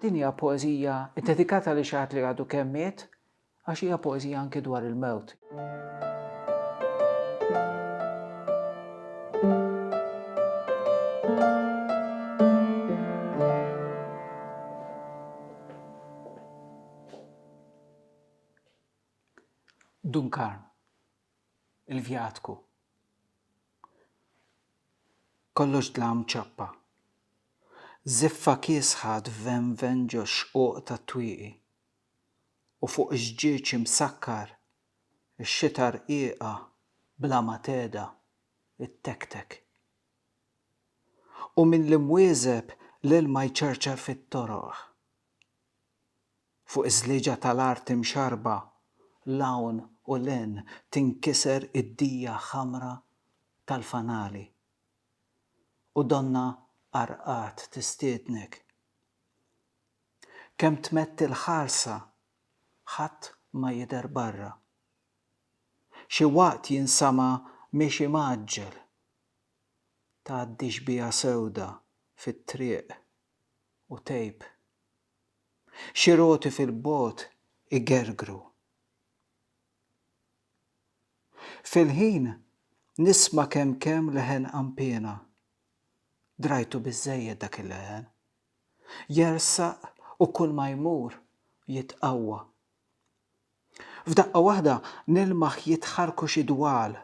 Din hija poeżija ddedikata lil xi ħadd li għadu kemm miet, għax hija poeżija anki dwar il-mewt. Dun Karm. il-vjatku. Kollox dlam ċappa. Żiffa kiesħa tvenven ġox-xquq tat-twieqi. U fuq ix-xġieġ imsakkar, ix-xita rqiqa bla ma tehda ttektek. U mill-imwieżeb l-ilma jċarċar fit-toroq. Fuq iż-żlieġa tal-art imxarrba 'l hawn u 'l hinn tinkiser id-dija ħamra tal-fanali. U donnha qarqat tistiednek. Kemm tmetti l-ħarsa ħadd ma jidher barra. Xi waqt jinsama' miexi mgħaġġel. Tgħaddi xbieha sewda fit-triq u tgħib. Xi roti fil-bogħod igergru. Fil-ħin nisma' kemm kemm leħen qanpiena. Drajtu biżżejjed dak il-leħen. Jersaq u kulma jmur jitqawwa. F'daqqa waħda nilmaħ jitħarrku xi dwal,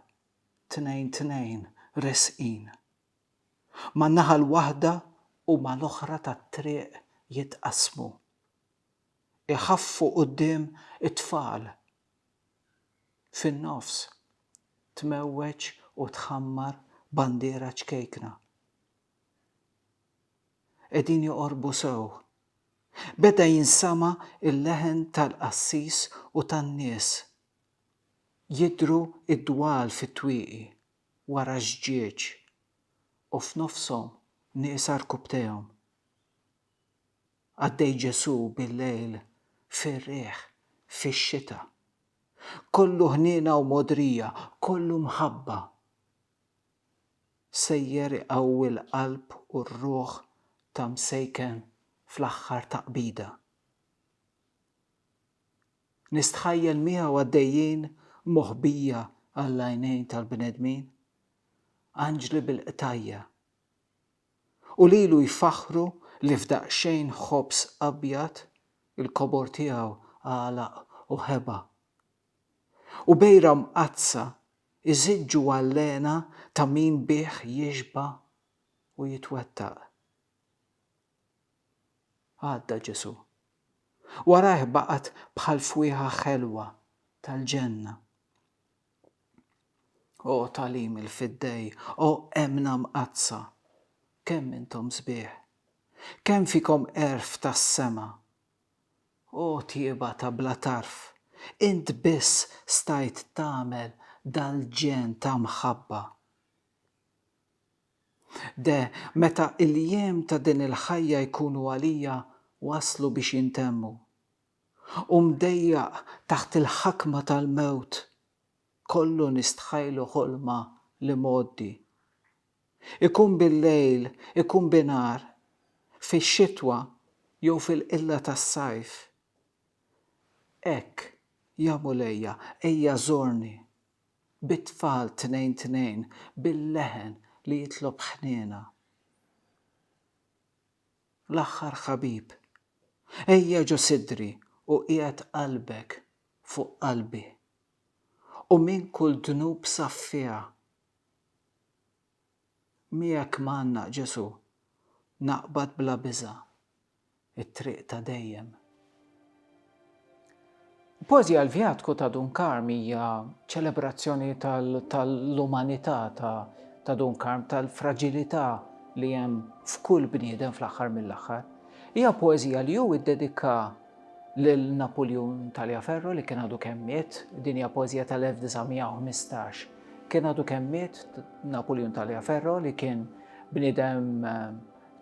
tnejn tnejn resqin. man-naħa l-waħda u mal-oħra tat-triq jitqassmu. Iħaffu quddiem it-tfal. Fin-nofs, tmewweġ u tħammar bandiera ċkejkna. Qegħdin joqorbu sew. Beda jinsama' l-leħen tal-qassis u tan-nies. Jidhru d-dwal fit-twieqi. wara ż-żġieġ u f'nofshom nieqsa rkubtejhom. Għaddej Ġesù bil-lejl fir-riħ, fix-xita. Kollu ħniena u mogħdrija, kollu mħabba. Sejjer iqawwi l-qalb u r-ruħ ta' msejken fl-aħħar taqbida. Nistħajjel miegħu għaddejjin moħbija għall-għajnejn tal-bnedmin, anġli bil-qtajja'. U lilu jfaħħru li f'daqsxejn ħobż abjad il-kobor tiegħu għalaq u ħeba. U bejra mqaddsa iżiġġu għall-hena ta' min bih jixba' u jitwettaq. Għadda Ġesù. Warajh baqgħet bħal fwieħa ħelwa tal-ġenna. O tagħlim il-fiddej, o emmna mqaddsa, kemm intom sbieħ! Kemm fikom għerf tas-sema! O tjieba ta' bla tarf, int biss stajt tagħmel dal-ġenn ta' mħabba. De, meta l-jiem ta' din il-ħajja jkunu għalija waslu biex jintemmu, u mdejjaq taħt il-ħakma tal-mewt, kollu nistħajlu ħolma l-imgħoddi. Ikun bil-lejl, ikun binhar, fix-xitwa jew fil-qilla tas-sajf. Hekk, ja Mulejja, ejja żorni. bit-tfal tnejn tnejn bil-leħen li jitlob ħniena. L-aħħar ħabib, ejja ġo sidri u qiegħed qalbek fuq qalbi, u minn kull dnub saffiha. Miegħek m'għandna, Ġesù, naqbad bla biża' t-triq ta' dejjem. Kważi għall-Vjatku ta' Dun Karm hija ċelebrazzjoni tal-umanità ta' Dun Karm, tal-fraġilità li hemm f'kull bniedem fl-aħħar mill-aħħar. Hija poeżija li hu iddedika lil Napuljun Taliaferro li kien għadu kemm miet, din hija poeżija tal-1915. Kien għadu kemm miet Napuljun Taliaferro li kien bniedem eh,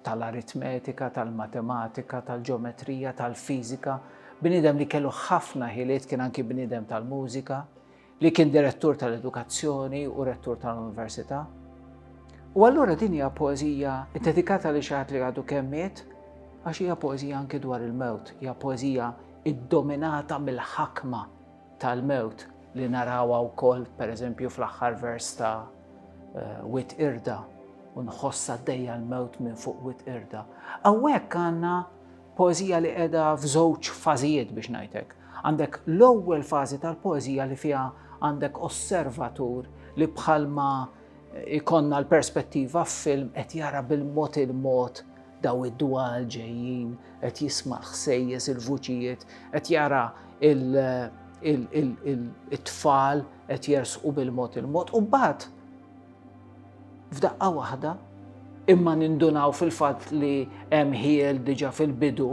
tal-aritmetika, tal-matematika, tal-ġeometrija, tal-fiżika, bniedem li kellu ħafna ħiliet kien anki bniedem tal-mużika, li kien direttur tal-edukazzjoni u rettur tal-università. U allura din hija poeżija ddedikata li xaħat li għadu kemmiet, għax hija poeżija anke dwar il-mewt, hija poeżija iddominata mill-ħakma tal-mewt li narawha wkoll pereżempju fl-aħħar vers ta' eh, wit irda u nħossa dejja l-mewt minn fuq wit irda. Hawnhekk għandna Poeżija li qiegħda f'żewġ fażijiet biex ngħid hekk. Għandek l-ewwel fażi tal-poeżija li fiha għandek osservatur li bħalma ikonna l-perspettiva f'film qed jara bil-mod il-mod daw id-dwal ġejjin, qed jisma' l-ħsejjes, il-vuċijiet, qed jara il-tfal qed jersqu bil-mod il-mod u mbagħad f'daqqa waħda, imma nindunaw fil-fatt li hemm ħiel diġà fil-bidu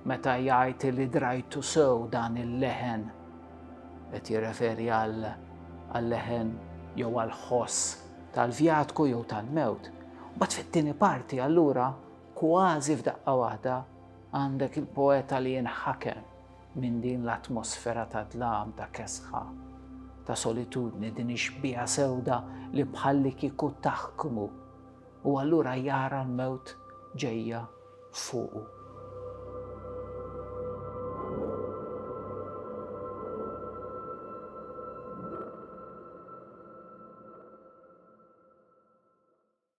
meta jgħid li drajtu sew dan il-leħen. Qed jirreferi għal-leħen jew għal-ħoss tal-vjatku jew tal-mewt. Mbagħad fit-tieni parti allura kważi f'daqqa waħda għandek il-poeta li jinħakem Minn din l-atmosfera ta' dlam, ta' kesħa, ta' solitudni, din ix-xbieha sewda li bħallikieku taħkmu, u allura jara l-mewt ġejja fuqu.